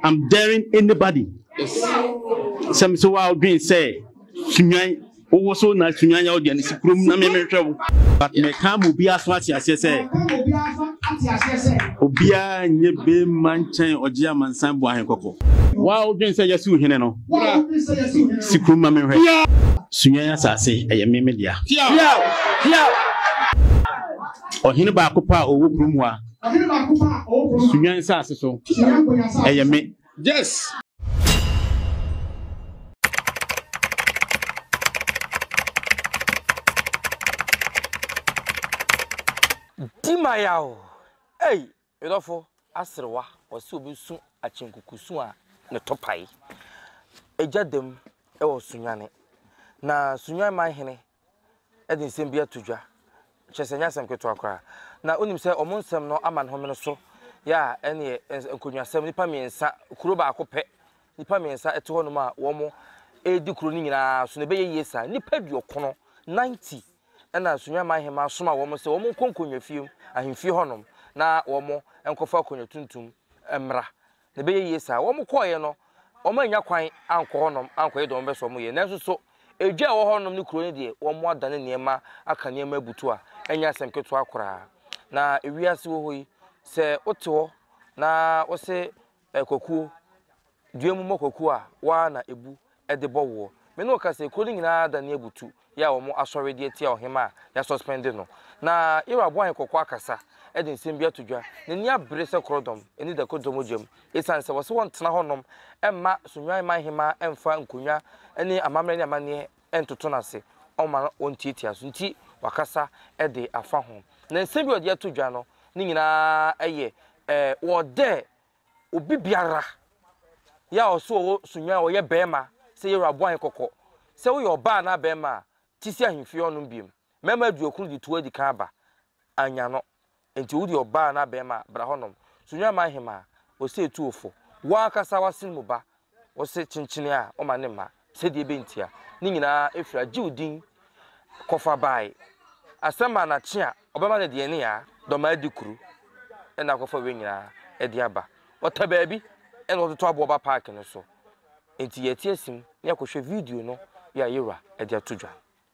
I'm daring anybody. Sɛ mesɛ wo a wodwen sɛ sunwan wowɔ so na sunwan yɛ wode anesi kurom na memehwɛ wo. But meka ma obiara so ate aseɛ sɛ obiara nyɛ bɛma nkyɛn ɔgye amansan bu ahe kɔkɔ. Wo a wodwen sɛ yɛsi wo hene no si kurom ma mehwɛ. Sunwan asase ɛyɛ me me dea. Ɔhene baako paa ɔwɔ kurom hɔ a. Sunya nsase so. Ɛyɛ me. Yes. Dimayaw. Ei, medɔfo aserewa wɔsi obi su akyenkukusu a ne topae. Egya dam wɔ Sunyane. Na Sunyan man hene de nsɛm bi ato dwa. Kyerɛ sɛ, ɛnyɛ asɛm ketewa koraa. Na wonim sɛ wɔn nsɛm no ama ne homene so yɛ a, ɛneɛ eh, nkonnwasɛm, nnipa mmiɛnsa, kuro baako pɛ, nnipa mmiɛnsa ɛte hɔnom a wɔn ɛredi kuro no nyinaa so na ɛbɛyɛ yie saa. Nnipa aduɔkono, 90, ɛna Sunya man hema asoma wɔn sɛ wɔn nkɔ nkonnwa fie mu, ahemfie hɔnom, na wɔn nkɔfa akonnwa tuntum mmra. Na ɛbɛyɛ yie saa. Wɔkɔeɛ no, wɔannya kwan ankɔ hɔnom ankɔyɛ deɛ wɔbɛsɛ wɔyɛ. Nanso so edwa a ɛwɔ hɔnom ne kuro no deɛ, wɔadane nneɛma aka nneɛma abutu a ɛnyɛ asɛm ketewa koraa. Na ewiase wɔ hɔ yi, sɛ wote hɔ na wose kwakuo, dua mu mmɔ kwakuo a, wo ara na ɛbu. de bɔ woɔ. Me ne wo ka sɛ, kuro no nyinaa adane abutu, yɛ a wɔn asɔre de atia ɔhemmaa a yɛasuspɛnde no. Na Yeroboam abɔ ahene kɔkɔ akasa de nsɛm bi ato dwa. N'ani abere sɛ korɔdɔm ani da kodwo mogya mu, esiane sɛ wɔse wɔntena hɔnom mma Sonwan man hemmaa mfa nkonnwa ne amammerɛ ne amanneɛ ntoto no ase, ɔmma ɔntiatia so nti, wakasa de afa ho. Na nsɛm bi a ɔde ato dwa no ne nyinaa yɛ wɔdɛ Obi biara yɛ a ɔso ɔwɔ sunya a ɔyɛ bɛɛma sɛ Yehowa bɔ hɛn kɔkɔ sɛ woyɛ ɔbaa anaa bɛɛma a, tse si ahemfie hɔnom biom. Mɛma eduokron dze tow edikan aba, annya no. Ntsi wo dze ɔbaa anaa bɛɛma a, bra hɔnom. Sunya ma ahemaa, ɔsɛ etu wo fo, woankasa w'asen mu ba, wɔsɛ kyenkyenee a ɔma ne mma sɛdeɛ ɛbɛntia, ne nyinaa ɛfiri a gye wo din kɔfa bae asɛm a na kye a ɔbɛma no deɛ ne a dɔmaa di kuro ɛna akɔfa wei nyinaa ɛde aba ɔta baabi ɛna ɔtoto aboɔ ba park no so nti yɛte asim ne akɔhwɛ video no yɛ a yɛwura ɛde ato dwa.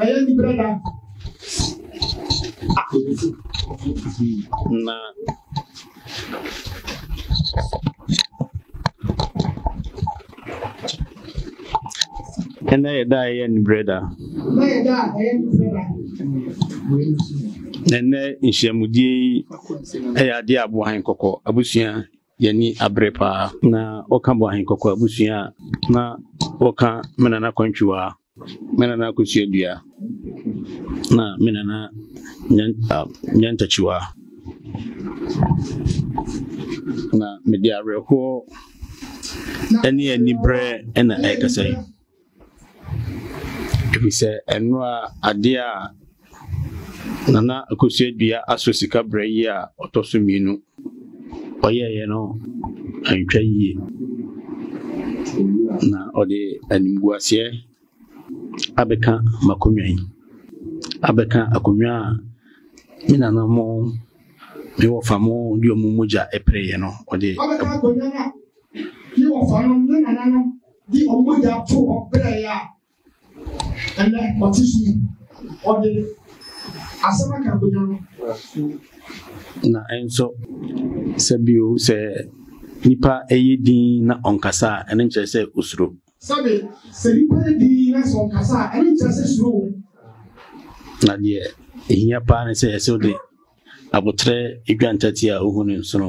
ɛyɛ nipa da na ɛnna yɛ da ɛyɛ nibrɛ da ɛnɛ nhyiamudie yi ɛyɛ adeɛ aboa hɛn kɔkɔ abusua yɛn ani abere paa. Na wɔka Boahen Kɔkɔ abusua a, na wɔka me nana Kwantwiwaa, me nana Kosuadua, na me nana Nyantakyiwaa. Na mede awerɛhoɔ ne aniberɛ na ɛrekasa yi. Efisɛ ɛnora ade a Nana Akosua-Dua asɔ sika berɛ yi a ɔtɔ so mmienu ɔyɛeɛ no antwa yie na ɔde animguaseɛ abɛka m'akonnwa yi, abɛka akonnwa a me nana mo me wɔfa mo de wɔn mogya pereeɛ no ɔde abɛka akonnwa no a me wɔfa no ne nananom de wɔn mogya to hɔ brɛɛ a ɛnɛ ɔte so yi ɔde asɛm aka bonya no. na nso sɛ bio sɛ nipa ɛyɛ din na ɔnkasa a ɛno nkyerɛ sɛ osuro. sɛbi sɛ nipa yɛ din na sɛ ɔnkasa a ɛno nkyerɛ sɛ suro. na deɛ ehia paa ne sɛ ɛsɛ de abotrɛ edwa ntɛtea a ohu ne nsono.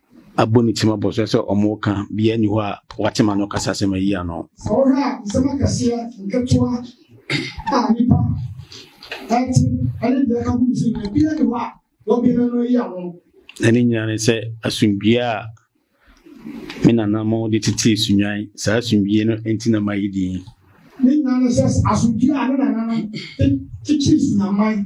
abɔ ne tirim abɔ so sɛ wɔreka, biaa nni hɔ a wate ma no kasa sɛ mayi ano. Sɛ wohwɛ a, nsɛm akɛseɛ, nketewa a nnipa ɛte, ɛne deɛ ɛka ho no so nyina, biaa nni hɔ a wɔbɛn no no ayi ano. Na ne nyina ne sɛ asomdwie a me nanamɔ de tetee sunwan, saa asomdwie no nti na mayi din. Ne nyina ne sɛ asomdwie a ne nananom de tetee sunwanman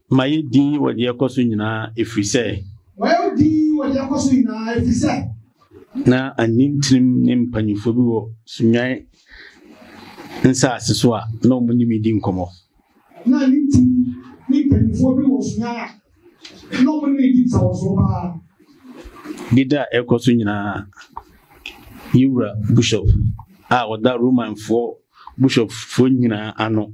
Ma yɛ din wɔ deɛ ɛkɔ so nyinaa, ɛfiri sɛ. Ma yɛ din wɔ deɛ ɛkɔ so nyinaa, ɛfiri sɛ. Na anintrim ne mpanimfoɔ bi wɔ Sunwan nsase so a na wɔn ne me di nkɔmmɔ. Na anintrim ne mpanimfoɔ bi wɔ Sunwan a na wɔn ne me di nsawɔsoɔ paa. Deda a ɛkɔ so nyinaa, yɛwura Bushop a ɔda Romanfoɔ Bushopfoɔ nyinaa ano.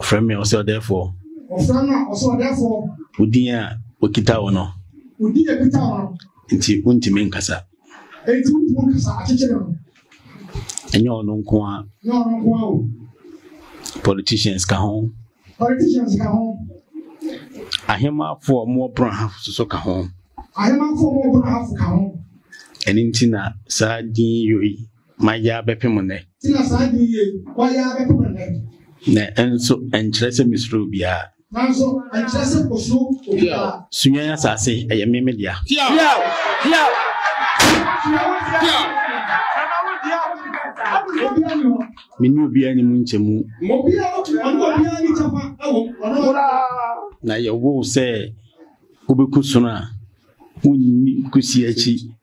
Ɔfrɛ me ɔsɛ ɔdɛɛfoɔ. Ɔfrɛ me ɔsɛ ɔdɛɛfoɔ. Wodin a okita wo no. Wodin a okita wo no. Nti wontumi nkasa. Nti wontumi nkasa akyekyere no. Ɛnyɛ ɔno nko a. Ɛnyɛ ɔno nko a o. Politicians ka ho. Politicians ka ho. Ahemafo a wɔwɔ pono ahafo soso ka ho. Ahemafo a wɔwɔ pono ahafo ka ho. Ɛno nti na saa din yi yɔ yi. Mayɛ ara bɛpem nnɛ. Ti na saa adwene yi ɛ. Wayɛ ara bɛpem nnɛ. Na ɛnso ɛnkyerɛ sɛ mesuro obiara. Nanso ɛnkyerɛ sɛ osuro obiara. Sunyani asase ɛyɛ me me dea. Tiaw! Tiaw! Tiaw! Me ne obiara ni mu nkyɛmu. Na yɛwoo sɛ wobɛku sono a wonni kusi akyi.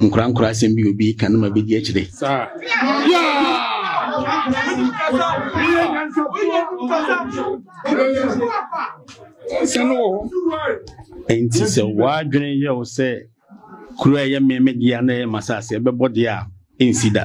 nkorankora asɛm bi obi ka no ma bɛdi akyire nti sɛ woadwene yɛ wo sɛ kuro a ɛyɛ mmɛmɛdeɛ na ɛyɛ masase ɛbɛbɔ deɛ a ɛnsi da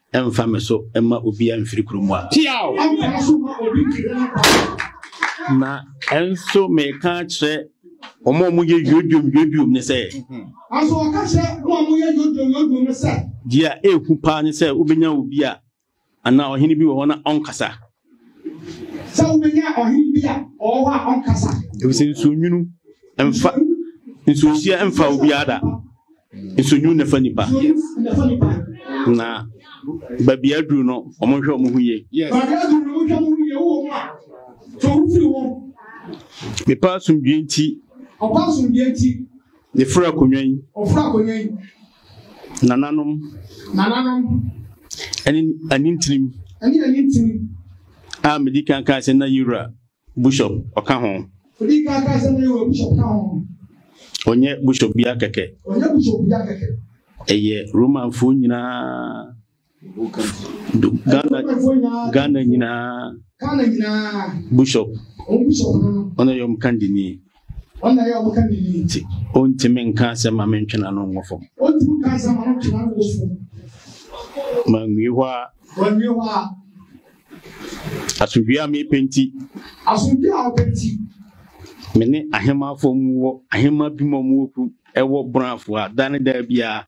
Ɛmfa me so mma obi amfiri kurom a. Tiaw! Ɛmfa me so mma obi mfiri ne kwan. Na ɛnso meka kyerɛ wɔn a wɔyɛ yodom yodom ne sɛ. Mhm. Nanso ɔka kyerɛ wɔn a wɔyɛ yodom yodom ne sɛ. Deɛ ɛhu paa ne sɛ wobɛnya obi a anaa ɔhene bi wɔ hɔ na ɔnkasa. sɛ wobɛnya ɔhene bi a ɔwɔ hɔ a ɔnkasa ɛfisɛ nsuonwunu mfa nsuohyia mfa obiara da nsuonwunu na ɛfa nipa na baabi aduru no ɔmo nhwɛ ɔmo ho yie mepa asomdwie nti Ne fura akonnwa yi. Ɔfura akonnwa yi. Nananom. Nananom. Ɛne anintirim. Ɛne anintirim. A medi kan kaa sɛ na yewura bishop ɔka ho. Medi kan kaa sɛ na yewura bishop ka ho. Ɔnyɛ bishop bia kɛkɛ. Ɔnyɛ bishop bia kɛkɛ. Ɛyɛ Romanfoɔ nyinaa. Ghana Ghana nyinaa Ghana nyinaa bishop wɔn bishop no no ɔno yɛ wɔn kandini wɔn na yɛ wɔn kandini ti ɔntumi nka asɛm ma mentwena no nkɔ fam ɔntumi nka asɛm ma mentwena no nkɔ fam ma nwie hɔ a ma nwie hɔ a asomdwie a mepɛ nti asomdwie a ɔpɛ nti me ne ahemafo mu wɔ ahema bi mu wɔ kurom ɛwɔ brafo a da ne da biara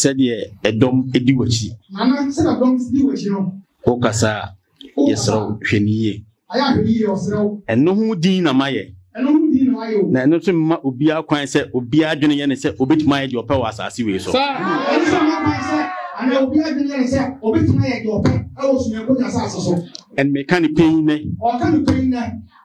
sɛdeɛ ɛdɔm di w'akyi wokasa a yɛserɛ wo hwɛ ne yie ɛno ho din na mayɛ na ɛno nso mma obiara kwan sɛ obiara adwene yɛ ne sɛ obɛtumi ayɛ deɛ ɔpɛ wɔ asase wei so ɛnmeka ne pɛi nɛ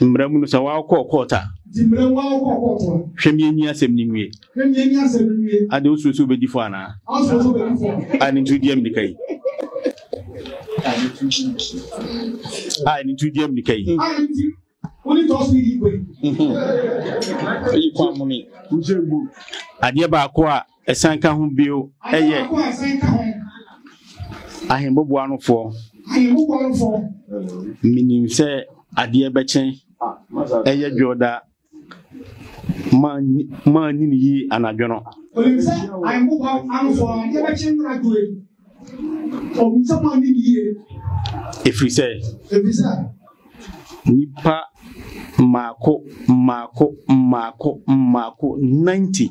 Mmara mu no, sɛ wɔakɔ kɔɔt a, hwɛ mienyi asɛm no nwie. Ade wosuro sɛ wobɛdi fɔ anaa? A ne nti di ammirika yi. A ne nti di ammirika yi. Adeɛ baako a Ɛsan ka ho bio yɛ ahemmɔbɔ anofoɔ. Menim sɛ adeɛ bɛkyɛn ɛyɛ dwoɔda maa nyini yi anadwo no. Onim sɛ ahemmɔbɔ anofoɔ adeɛ bɛkyɛn no anadwo yi. Onim sɛ maa nyini yie. Ɛfiri sɛ. Ɛfiri sɛ. Nipa mmaako mmaako mmaako mmaako ninety.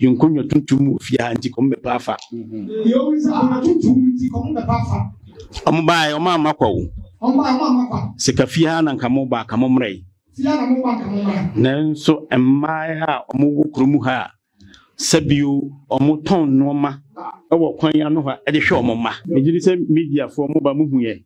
Yɛn nkonnwa tuntum wɔ fie ha nti kɔm bɛpa afa. Yɛn nkonnwa tuntum nti kɔm bɛpa afa. Wɔn baa wɔn amma kwa o. Wɔn baa wɔn amma kwa. Sɛ ka fie ha na nka mo baa ka mo mmerɛ yi. Fie ha na mo baa nka mo mmerɛ. Nanso mmaa a wɔn wɔ kurom ha a sɛbio wɔn tɔn nneɛma wɔ kwan ano ha de hwɛ wɔn mma. Megye di sɛ mediafoɔ mo ba mo hu yɛn.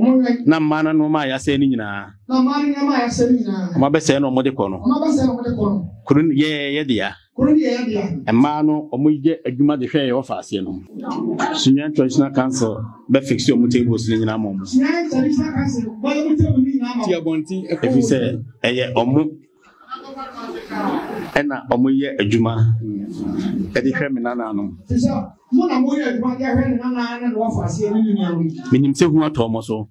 Wɔbɛwɛn. Na mmaa no nneɛma a yɛasɛe no nyinaa. Na mmaa no nneɛma a yɛasɛe no nyinaa. Wɔabɛsɛe no a wɔde kɔ no. Wɔabɛsɛe na wɔde kɔ no. Kuro no yɛ yɛn dea. Kuro no yɛ yɛn dea. Mmaa no wɔyɛ adwuma de hwɛ yɛn wɔfa aseɛ no. Sunyani Traditional Council bɛfikse wɔn tables no nyinaa ma wɔn. Sunyani Traditional Council bɛyɛ wɔn table no nyinaa ma wɔn. Ti abɔnten ɛkɔ wɔn. Ɛfiri sɛ ɛyɛ wɔn. Ɛna ɔmo yɛ adwuma ɛde hwɛ me nananom. Menim sɛ hu atɔ ɔmo so.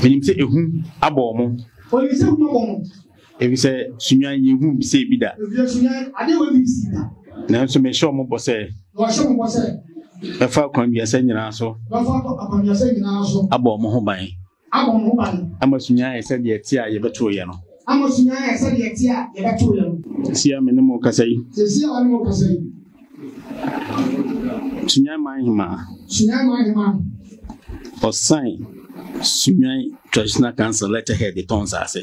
Menim sɛ ehu abɔ ɔmo. Efisɛ sunyan yɛ hu bisɛ ebi da. Nanso mehyɛ ɔmo bɔ sɛ. Mɛfa akwanduasɛ nyinaa so. Abɔ ɔmo ho ban. abɔ mo ho ban. Ama sunya ayɛ sɛ deɛ ɛte a yɛbɛtoo yɛ no. Ama sunya ayɛ sɛ deɛ ɛte a yɛbɛtoo yɛ no. Seesei a me ne mo rekasa yi. Seesei a ɔne mo rekasa yi. Sunyan man hemaa. Sunyan man hemaa. Ɔsan sunyan traditional council letterhead tɔn nsaase.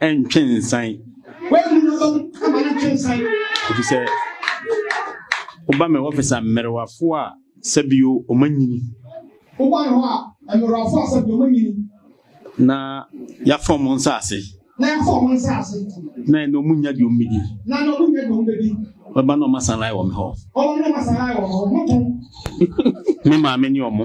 ntwe nsan. Ɛfiri sɛ woba me wɔfis a mmerewafoɔ a sɛbio ɔma nyini woba me hɔ a mmerewafoɔ a sɛbio ɔma nyini na yɛafa ɔmo nsaase na yɛafa ɔmo nsaase na ɛna ɔmo nya deɛ ɔmo bɛdi na ɛna ɔmo nya deɛ ɔmo bɛdi wɔba na ɔma sanlae wɔ me hɔ ɔmo na ɔma sanlae wɔ me hɔ ɔmo tɔn me maame ne ɔmo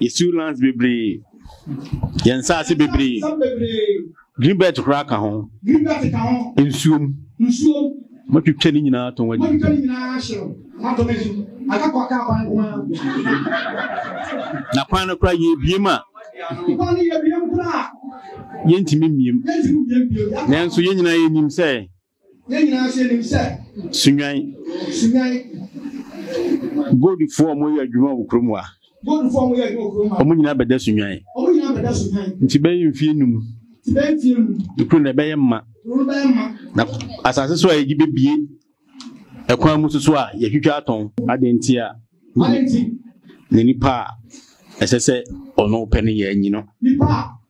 Yɛsiw lands bebree. Yɛn nsaase bebree. Green belt koraa ka ho. Nsuom. Matwitwa ne nyinaa tɔn adi. Na kwan no koraa yɛbiem a. Yɛntumi mmiem. Nanso yɛn nyinaa yɛnim sɛ. Yɛn nyinaa nso yɛnim sɛ. Sunwan. Sunwan. Goldfoɔ a wɔyɛ adwuma wɔ kurom a. Goldfoɔ a wɔyɛ adwuma wɔ kurom a. Wɔn nyinaa bɛda sunwan. Wɔn nyinaa bɛda sunwan. Nti bɛyɛ mfie num. Nti bɛyɛ mfie num. Ekuro na ɛbɛyɛ mma. Ekuro bɛyɛ mma. Na asase so a yɛgye bebie ɛkwan mu soso a yɛtwitwa atɔn. Adeɛ nti a. Adeɛ nti. Na nipa a ɛsɛ sɛ ɔno pɛ no yɛ anyi no. Nipa a.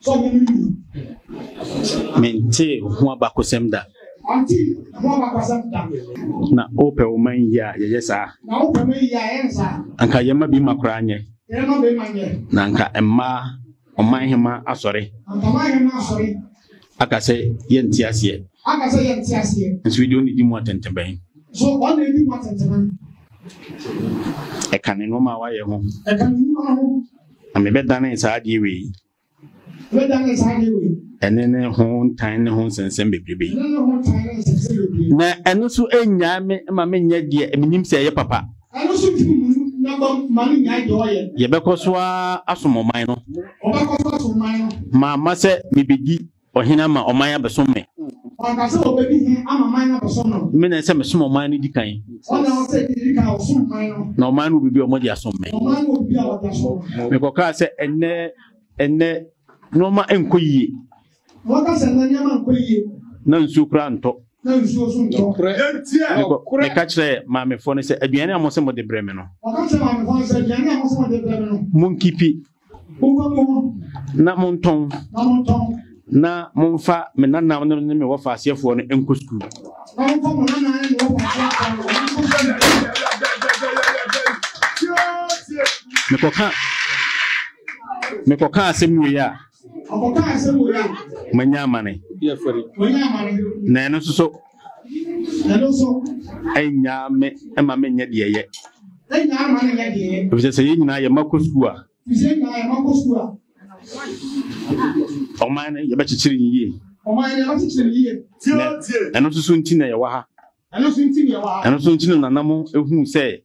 So ɔmo no nim? Mentee ho abakosɛm da. Ɔnte ho abakosɛm da. Na wopɛ wo man yie a yɛyɛ saa. Na wopɛ man yie a yɛyɛ no saa. Anka yɛma bi ma koraa nyɛ. Yɛma bi ma nyɛ. Na anka mmaa ɔman hema asɔre. Anka ɔman hema asɔre. Aka sɛ yɛnte aseɛ. Aka sɛ yɛnte aseɛ. Nso yi deɛ ɔne di mu atɛntɛbɛn. So ɔne di mu atɛntɛbɛn. Ɛka ne nneɛma a wayɛ ho. Ɛka ne nneɛma ho. Na mebɛdanee saa adeɛ wei. Mebɛdanee saa adeɛ wei. Ɛne ne ho ntan ne ho nsɛnsɛm bebrebe. Ɛne ne ho ntan ne nsɛnsɛm bebrebe. Na ɛno nso nnyaa me ma menyɛ deɛ menim sɛ ɛyɛ papa. Ɛno nso ntumi mu nabam ma no nnyae deɛ ɔyɛ. Yɛbɛkɔ so ara asom ɔman no. Wɔbɛkɔ so asom ɔman no. Mamma sɛ mebɛdi Ɔhene ama ɔman abɛsom me. Ɔka sɛ ɔbɛdi hene ama man no abɛsom no. Me na ɛsɛ mesom ɔman no di kan. Ɔna ɔsɛ di kan ɔsom man no. Na ɔman no obibi a wɔde asom me. Ɔman no obibi a wɔde asom me. Mekɔkaa sɛ ɛnɛ ɛnɛ nneɛma nkɔ yie. Wɔka sɛ ɛnɛ nneɛma nkɔ yie. Na nsuo koraa ntɔ. Na nsuo so ntɔ. Meka kyerɛ maamefoɔ no sɛ aduane a mo sɛ mo de brɛ me no. Wɔka kyerɛ maamefoɔ no sɛ aduane a mo sɛ mo de brɛ me no. Monkipi. na montɔn na momfa me nananom no ne me wɔfa aseɛfoɔ no nkɔ sukuu mekɔka mekɔka asɛm wei a manya amane na ɛno nso so ɛno nso ɛnyaa me ɛma me nyɛ deɛ yɛ ɛnyaa ma no nyɛ deɛ yɛ efisɛ sɛ yɛn nyinaa yɛ ma kɔ sukuu a efisɛ yɛn nyinaa yɛ ma kɔ sukuu a ɔman no yɛbɛkyekyere ne yie ɔman no yɛbɛkyekyere ne yie ɛno nso so nti na yɛwɔ ha ɛno nso nti na yɛwɔ ha ɛno nso nti na nanam ehu sɛ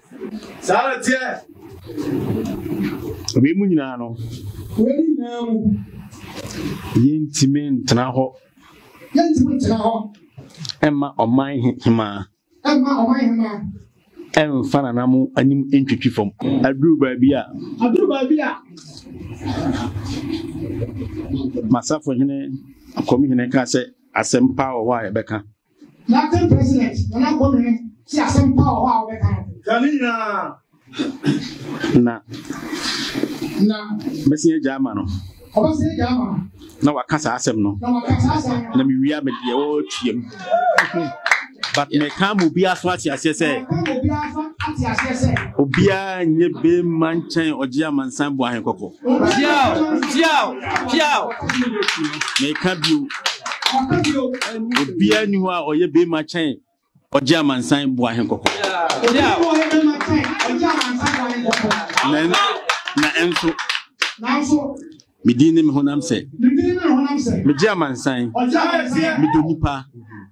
saa na teɛ wei mu nyinaa no wei nyinaa mu yɛntumi ntena hɔ yɛntumi ntena hɔ ɛmma ɔman hemaa ɛmma ɔman hemaa ɛmfa nana mo anim ntwitwi fam aduru baabi a aduru baabi a masafo hene akɔmhene ka sɛ asɛmpa wɔ hɔ a yɛbɛka Captain President Nana Akufo Addo no te asɛm pa wɔ hɔ a wɔbɛka no. Ka ne nyinaa. Na. Na. Bɛsi agya ama no. Ɔbɛsi agya ama no. Na waka saa asɛm no. Na waka saa asɛm no. Na mewia me deɛ wɔretua mu. But me ka mo bi aso ate aseɛ sɛ. Obiara nyɛ bɛrima nkyɛn ɔgye amansan bu ahekɔkɔ. Piaw, piaw, piaw. Meka bio. Obiara ni hɔ a ɔyɛ bɛrima kyɛn ɔgye amansan bu ahe kɔkɔ. Na ɛnso medin ne me honam sɛ megye amansan medɔ nipa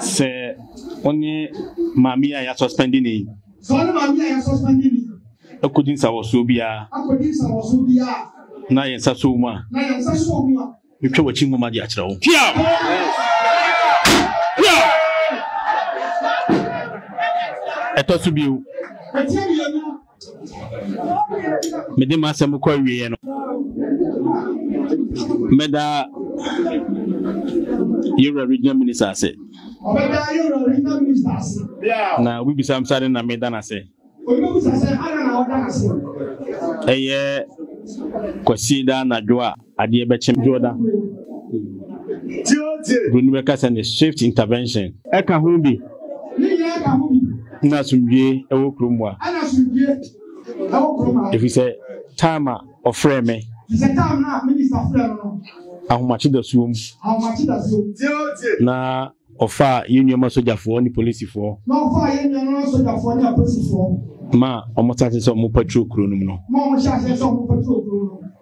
Sɛ wo ne maame yi a yɛasuspɛnde no yi. Sɛ wo ne maame yi a yɛasuspɛnde no yi. Akodi nsawɔsoɔ biara. Akodi nsawɔsoɔ biara. Na yɛn nsa sɔ wo mu a. Na yɛn nsa sɔ wo mu a. Metwa w'akyi nwoma de akyerɛ wo. Pia! Pia! Ɛtɔ so bio. Ɛtɔ so bio. mede m'asɛm kɔ awieɛ no mɛda yɛwura regional minister ase na wobibisa m sade na meda no ase ɛyɛ kwasi da anadwo a Adeɛ bɛkye me. Dwoda Buroni bɛka sɛ ne swift intervention. Ɛka ho bi. Ɛna asomdwie ɛwɔ kurom wa. Efisɛ time a ɔfrɛɛ me. Ahomakye da suo mu. Na ɔfaa yɛn nnuama sogyafoɔ ne polisifoɔ. Ma wɔn hyɛ aseɛ sɛ wɔn patrol kuro no mu no.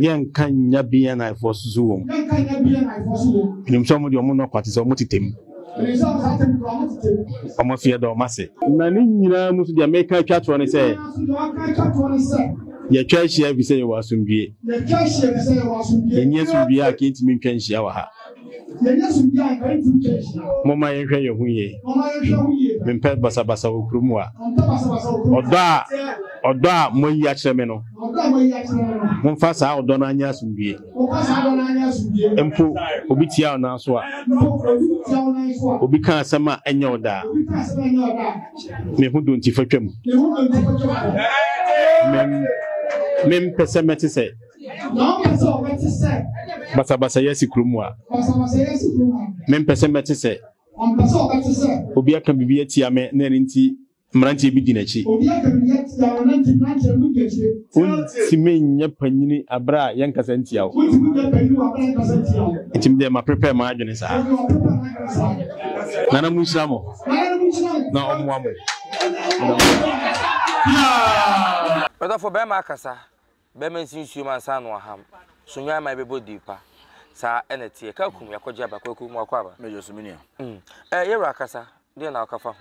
yɛnka nya bnafoɔ soso wɔ nim sɛ ɔmode ɔmo nɔkwa te sɛ ɔmo tetɛm ɔmo fiɛ dɔ ɔmo ase na ne nyinaa mu so deɛ meka atwa toɔ ne sɛ yɛtwa ahyia fi sɛ yɛwɔ asomdwie ɛnyɛ asomdwie a kɛntumi ntwa nhyia wɔ ha Momma yɛnhwɛ yɛn ho yie. Mempɛ basabasa wɔ kurom a. Ɔdɔ a ɔdɔ a moayi akyerɛ me no, momfa saa ɔdɔ no anyɛ asomdwie. Mpo obi tia wo nan so a, obi ka asɛm a ɛnyɛ ɔdɔ a, me ho dontifa twam. Mempɛ sɛ mɛte sɛ Na ɔka sɛ ɔbɛte sɛ. Basabasayɛ si kurom a. Basabasayɛ si kurom a. Mempɛ sɛ mɛte sɛ. Ɔmpɛ sɛ ɔbɛte sɛ. Obi aka biribi atia me na ɛno nti mmeranteɛ bi di n'akyi. Obi aka biribi atia me na nti mmeranteɛ bi di akyi. Wontumi nyɛ panyini abere a yɛnkasa ntia wo. Wontumi nyɛ panyini wɔ abere a yɛnkasa ntia wo. Nti me deɛ maprepare m'adwene saa. Nti maprepare m'adwene saa. Nana mu nhyira mo. Nana mu nhyira mo. Na ɔmmoa mo. Yeah. Ɔdɔfo bɛrima akasa. Bɛma nsi nsuom ansa na wɔaham. So nnwan mma ɛbɛbɔ dii pa? Saa na ɛteɛ. Ka kum, yɛakɔgye aba, kwaku, ma wakɔ aba. Major so me nua. Mm. Ɛɛ, yɛwura akasa, deɛn na woka fa ho?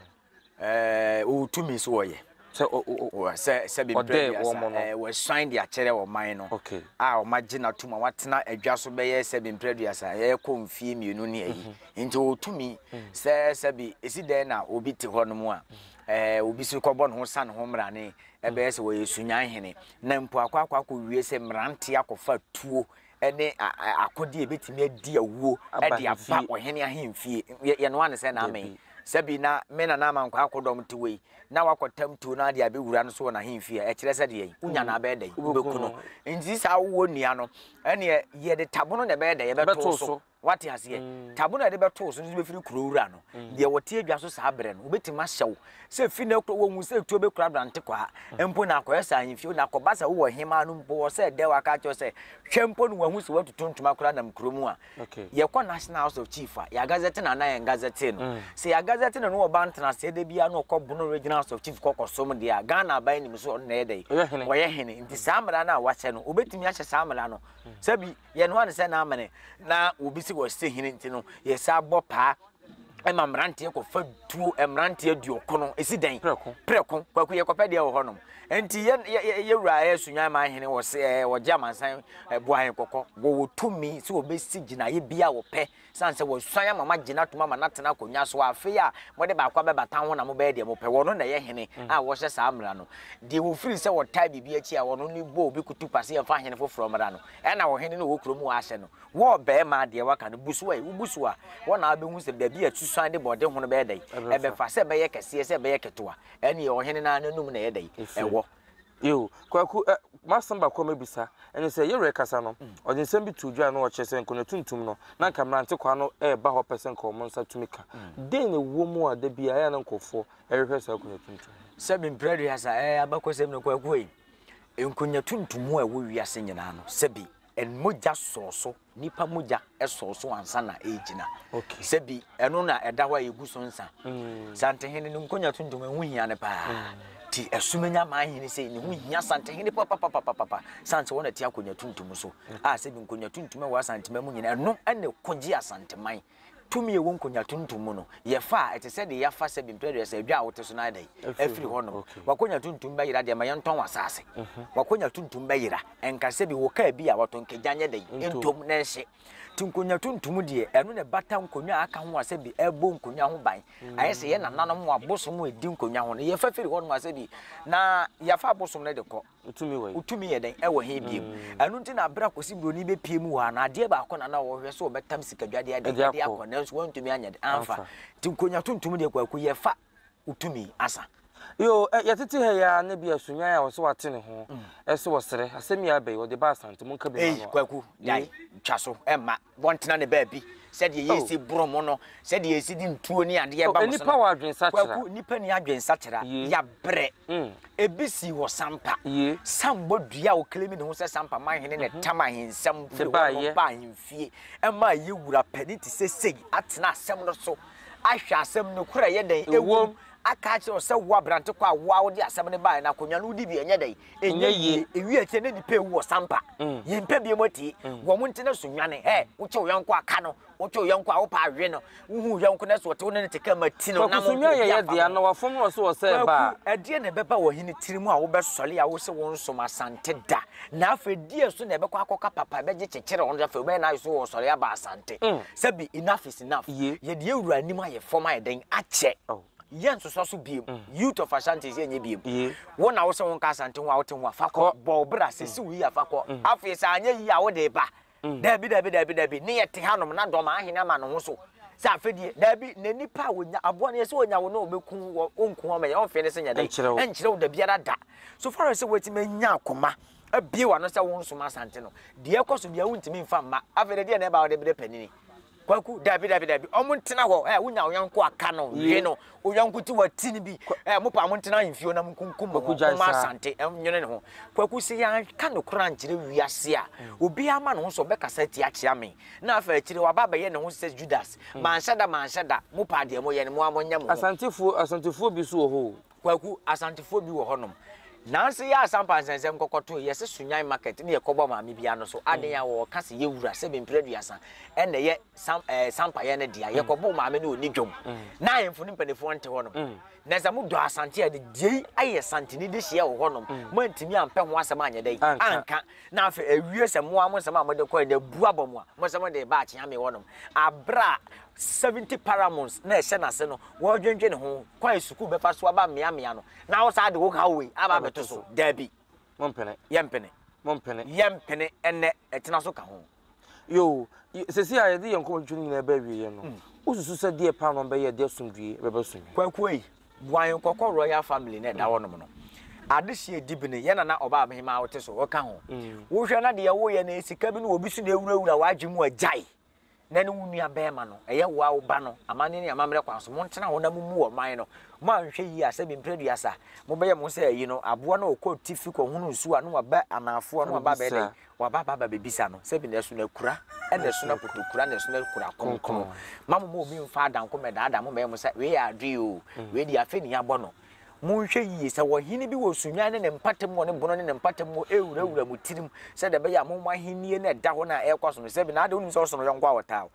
Ɛɛ, ɔwɔ tumi so wɔyɛ. Sɛ o, o, o, sɛ, sɛ bɛbrɛ Ɔdɛɛ bi wɔn asa. no. Ɛɛ, wɔasuan de akyerɛ ɔman no Ok. a wɔagye no atom a watena adwa so bɛyɛ sɛ bi mprɛduasa, ɛrekɔ mfie mmienu ne ayi. Nti ɔwɔ tumi sɛ sɛ bi, ɛsi dɛn na obi te hɔnom a, ɛɛ, obi so kɔbɔ ne ho sa ne ho mmara ne Ɛbɛyɛ sɛ wɔyɛ sunyan hene, na mpo akɔ akɔ akɔwie sɛ mmeranteɛ akɔfa tuo ne akodeɛ a ɛbɛtumi adi awuo de aba ɔhene ahemfie. Yɛnoa no sɛ na amee. Sɛbi na me nana amankwaa akodɔm te wei, na wakɔtam tuo no ade abɛwura no so wɔ n'ahemfie a, ɛkyerɛ sɛ deɛn? Wonya no abɛyɛ dɛn? Wobɛku no. Nti saa wowɔ nnua no, ɛnneɛ yɛde tabono na ɛbɛyɛ dɛn? Ɛbɛto so. Wate aseɛ? Tabo na yɛde bɛto wo so nso bɛfiri kuro wura no. Deɛ wɔte adwa so saa berɛ no, wɔbɛtumi ahyɛ wo sɛ fi na kuro wɔhu sɛ tuo bɛkura aberante kwa mpo na akɔyɛ saa ahemfie na akɔba sɛ wowɔ hemaa no mpo wɔ sɛ dɛ waka akyerɛ sɛ hwɛ mpo no wahu sɛ watutu ntoma kura nam kuro mu a yɛkɔ National House of Chief a yɛagazɛte no anaa yɛn gazɛte no sɛ yɛagazɛte no no ɔba ntenaseɛ da biara na ɔkɔ bono Regional House of Chief kɔkɔsom deɛ a Ghana aban nim so ɔno na ɛyɛ dɛ ɔyɛ hene nti saa mmara no a wahyɛ no wɔbɛtumi ahyɛ saa mmara no sɛ bi Yɛnoa no sɛ n'amene na wɔbisi wɔ sɛ hene nti no, yɛsan bɔ paa ma mmeranteɛ kɔfa tuo mmeranteɛ duokono ɛsi dɛn prɛko kwaku yɛkɔpɛ deɛ wɔ hɔnom nti yɛwura yɛ sunwan ma hene wɔ sɛ wɔgye amansan boa he kɔkɔ wɔwɔ tumi sɛ wɔbɛsi gyinaeɛ bi a wɔpɛ Esiane sɛ wɔasuan ama moagye no atom ama no atena akonnwa so a afei a mode baako abɛba tan ho na mobɛyɛ deɛ mopɛ, wɔno na ɛyɛ hene a wɔhyɛ saa mmara no. Deɛ wɔfiri sɛ wɔtae biribi akyi a wɔno ne bɔ obi kutupa sɛ yɛmfa hene foforɔ mmra no, ɛna ɔhene no wɔ kuro mu hɔ ahyɛ no wɔ ɔbarima a deɛ waka no bu so ɛ. Wobu so a, hɔ na wobɛhu sɛ baabi a asusuan de bɔɔde ho no bɛyɛ dɛn, ɛbɛfa, sɛ ɛbɛyɛ kɛseɛ, sɛ ɛbɛyɛ ketewa, ɛnneɛ ɔhene no ara n'anom na ɛyɛ dɛn, ɛwɔ. Yiw, Kwaku, ɛ, m'asɛm baako a mɛbisa, ɛne sɛ, yɛn rekasa no, ɔde nsɛm bi too dwa na ɔkyerɛ sɛ nkonnwa tuntum no, na anka mmerante kwaa no reba hɔ pɛ sɛ anka wɔn nsa tumi ka. Dɛn na ɛwɔ mu a da biara ɛyɛ a na nkurɔfoɔ rehwehwɛ saa akonnwa tuntum no? Sɛ mempira dua saa, ɛ, abakɔsɛm no, Kwaku ei, nkonnwa tuntum a ɛwɔ wiase nyinaa no, sɛbe, ɛ, mogya sɔɔ so. Nipa mogya sɔw so ansa na ɛregyina. Sɛ bi, ɛno na ɛda hɔ a yegu so nsa. Santehene no nkonya tuntum, ɛho hia no paa. Ti Asumenya maa hene sei, ne ho hia Santehene papapapapapa. San sɛ wɔn na ti akonya tuntum so. A sɛ bi nkonya tuntum a ɛwɔ Asantema mu nyinaa, ɛno na ɛkogye Asanteman. Tumi a ɛwɔ nkonwa tuntum mu no yɛ fɛ a ɛte sɛ deɛ yɛafa sɛ bempe aduasa, edwa a wote so no ayɛ dɛn? Afiri hɔnom. W'akonwa tuntum bɛyera deɛ ma yɛntɔn w'asaase. W'akonwa tuntum bɛyera. Ɛnka sɛ bi wɔ kaa bi a watɔn kagya nyɛ dɛn? Ntom na ɛnhye. Nti nkonwa tuntum deɛ, ɛno na ɛbata nkonwa a aka ho a sɛ bi ɛbɔ nkonwa ho ban. Ayɛ sɛ yɛn nananom wɔ abosom a ɛdi nkonwa ho no, yɛfa firi hɔnom a sɛ bi na yɛafa abosom no de kɔ. Wotumi yɛ dɛn? Ɛwɔ he bio? Hmm. Ɛno nti na berɛ a Kwasi Buroni bɛpie mu hɔ a, na adeɛ baako na na wɔhwɛ so wɔbɛtam sikadwadeɛ ade de akɔ, nanso wɔntumi anyɛ de amfa. Nti nkonya tuntum deɛ kwaku yɛfa wotumi asa. Yo, yɛtete ha yi ara na bi asunyan a wɔsɛ wate ne ho, ɛsɛ wɔsrɛ. Asɛm yi abɛyi, wɔde ba Asante, monka bi ma no a. Kwaku, gyae, twa so, ɛmma. Wɔntena ne baabi, sɛdeɛ yɛresi boro mo no, sɛdeɛ yɛsi de ntuo ne adeɛ ba mo so no. Kwaku, nnipa nni adwensakyera, yɛabrɛ. Ebi sii wɔ Sampa. Sambɔ dua a ɔclaimi ne ho sɛ Sampa man hene na ɛtam ahensɛm firi hɔ nom baa ahemfie. Ɛma ɛyɛ wura panin te sɛ sei atena asɛm no so, ahwɛ asɛm no koro a ɛyɛ dɛn wom, aka akyerɛ wo sɛ wo abrante kɔ a wo ara wode asɛm no baeɛ no, akonnwa no wodi bi a ɛnyɛ dɛn? Ɛnyɛ yie. Ewie akyire na nipa ewu wɔ sampa. Mm. Yɛn mpɛ bi mu atie. Mm. Wɔn mo nti na so nwane. Hɛ, mm. wokye wo yɔnko aka no. Wokye wo yɔnko a wopa awe no. Wohu yɔnko na so ɔte wo ne no te kama ti no. Kwaku so nwa yɛyɛ deɛ na wafom no so ɔsɛ ɛba. Kwaku, ɛdeɛ na ɛbɛba wɔ hene tiri mu a wobɛsɔre a wose wo nsom asante da. Na afei deɛ so na ɛbɛkɔ akɔka papa ɛbɛgye kyekyere wɔn afei wobɛyɛ na ayɛ so wɔsɔre aba asante. Mm. Sɛbi enough is enough. Yɛde awura anim ayɛ fam ayɛ dɛn akyɛ. Oh. Yɛ nsosɔ so biem. Youth of Ashanti sɛ ɛnyɛ biem. Wo na wo sɛ wo nka Asante ho a wote ho a fa kɔ. Bɔ wo bra sɛ si wo yie a fa kɔ. Afei sɛ anyɛ yie a wo de ba. Daabi daabi daabi daabi ne yɛ te hanom na dɔm ahene ama ne ho so sɛ afɛdie. Daabi na nipa a wɔnya aboa no yɛ sɛ wɔnya wo na ɔbɛku wɔ ɔnku wɔn mɛyɛ ɔnfee ne se nyɛ dɛn ɛnkyerɛ wo da biara da. So far as sɛ wɔatumi anya akoma abie w'ano sɛ wo nsom Asante no deɛ ɛkɔ so biara wontumi mfa mma. Afei deɛ deɛ na ɛba a wode brɛ panini. Kwaku, Dabi dabi dabi, ɔmo ntena hɔ ɛ, wonya wo yɔnko a ka no, we no, wo yɔnko ti wa ti no bi ɛ, mo paa mo ntena ahenfio na mo nkunkum mo ho, mo ma Asante nwene ne ho. Kwaku, Sɛ yɛanka nokora ankyerɛ wiase a, obiara ama ne ho so ɔbɛkasa atia akyea me, na afei akyire yi waba abɛyɛ ne ho sɛ Judas, manhyɛ da manhyɛ da, mo paa deɛ mo yɛ no mo ara mo nyɛ mo ho. Asantefoɔ, Asantefoɔ bi nso wɔ hɔ o. Kwaku, Asantefoɔ bi wɔ hɔnom. Nanse yɛ Asampa nsɛnsɛm kɔkɔto yɛse Sunyan market ne yɛkɔbɔ maame bi ano so aden a wɔɔka se yɛwura sɛ Bemprɛduasa ɛna ɛyɛ Sam ɛɛ Sampayɛ no dea. Yɛkɔboo maame no ɔni dwom. Na ahemfo no mpanifoɔ nte hɔnom. Na sɛ mo dɔ Asante a de diei ayɛ Asanteni dehyeɛ wɔ hɔnom. Mo antumi ampɛ ho asɛm anyɛ dɛn? Anka. Na afei awie sɛ mo ara mo nsɛm a mode kɔɛ no abu abɔ mo a mo sɛ mode reba Akyeame hɔnom. Aberɛ a 70 paramount na ɛhyɛ n'ase no wɔredwendwene ho kwan a sukuu bɛfa so aba mmeammea no na wosaa de wo haw wei aba abɛto so. Dabi. Mompene. Yɛmpene. Mompene. Yɛmpene ɛnnɛ. Ɛtena so ka ho. Yoo, seesei a yɛde yɛn nkɔmmɔtwitwi no nyinaa reba awieeɛ no, hmm. wosusu sɛ deɛ paa na ɔbɛyɛ de asomdwoeɛ bɛba so yi? Kwaku ei, boa yɛn kɔkɔ royal family na ɛda hmm. hɔnom no. Adehyeɛ dibene, yɛn nana ɔbaa abehemaa wote so, ɔka ho. Hmm. Wohwɛ na deɛ woyɛ no sika bi no obi so na ɛwurawura w'adwe mu agyae. na ne wo nua bɛɛma no, ɛyɛ wo a wo ba no, amanne ne amammerɛ kwan so, montena hɔ na mommu wɔ man no. Mo a nhwɛ yie a, sɛ bi mprɛduasa, mobɛyɛ mo sɛ ayi no, aboa no a ɔkɔ atifi kɔ hunu nsuo a, na waba anaafoɔ, na waba abɛyɛ dɛn? Waba aba aba bɛbisa no, sɛ bi na ɛso na kura, ɛna ɛso na koto kura, na ɛso na kura kronkron. Ma mo ma obi mfa adanko mɛdaadaa mo mɛyɛ mo sɛ, wei yɛ adwee o, wei deɛ afɛ ni abɔ no. Monhwɛ yiye sɛ ɔhene bi wɔ sunyan ne ne mpatamu wɔ ne bono ne ne mpatamu hɔ rewurawura mo tirim, sɛdeɛ ɛbɛyɛ a mommɔ ahennie no a ɛda hɔ no a ɛrekɔ so no sɛ bi, na adɛn, wonim sɛ ɔso no yɔnko a ɔtaa wo.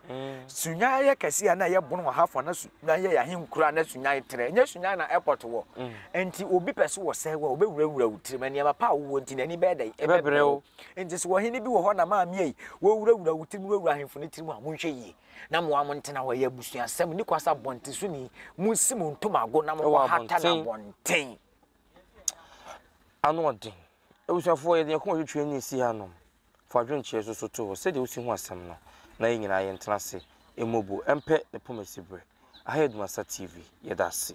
Sunyan yɛ kɛseɛ a na ɛyɛ bono ɔha fã, na sunyan yɛ ahenkuro a na sunyan trɛ, ɛnyɛ sunyan na airport wɔ. Enti obi pɛ sɛ ɔsɛe wo a, ɔbɛwurawura wo tirim, na nneɛma pa a wowɔ nti n'ani bɛyɛ dɛn? Ɛbɛbrɛ wo. Enti sɛ ɔhene bi wɔ hɔ na maame ei, wɔrewurawura wo tirim, na wɔawura ahemfo no tirim a, monhwɛ yiye. na mo ara mo ntena hɔ yɛ abusuasɛm ne kwasa abɔntesoni monsi mo ntomago na mokɔ hata na abɔnten ano ɔden abusuafoɔ yɛde yɛkoma twitwi ani si ha nom fa adwenkyerɛ so so to hɔ sɛdeɛ wosi ho asɛm no na yɛ nyinaa yɛntena ase mmobo ɛmpɛ ne pomasi berɛ aha yɛ adumasa tv yɛda ase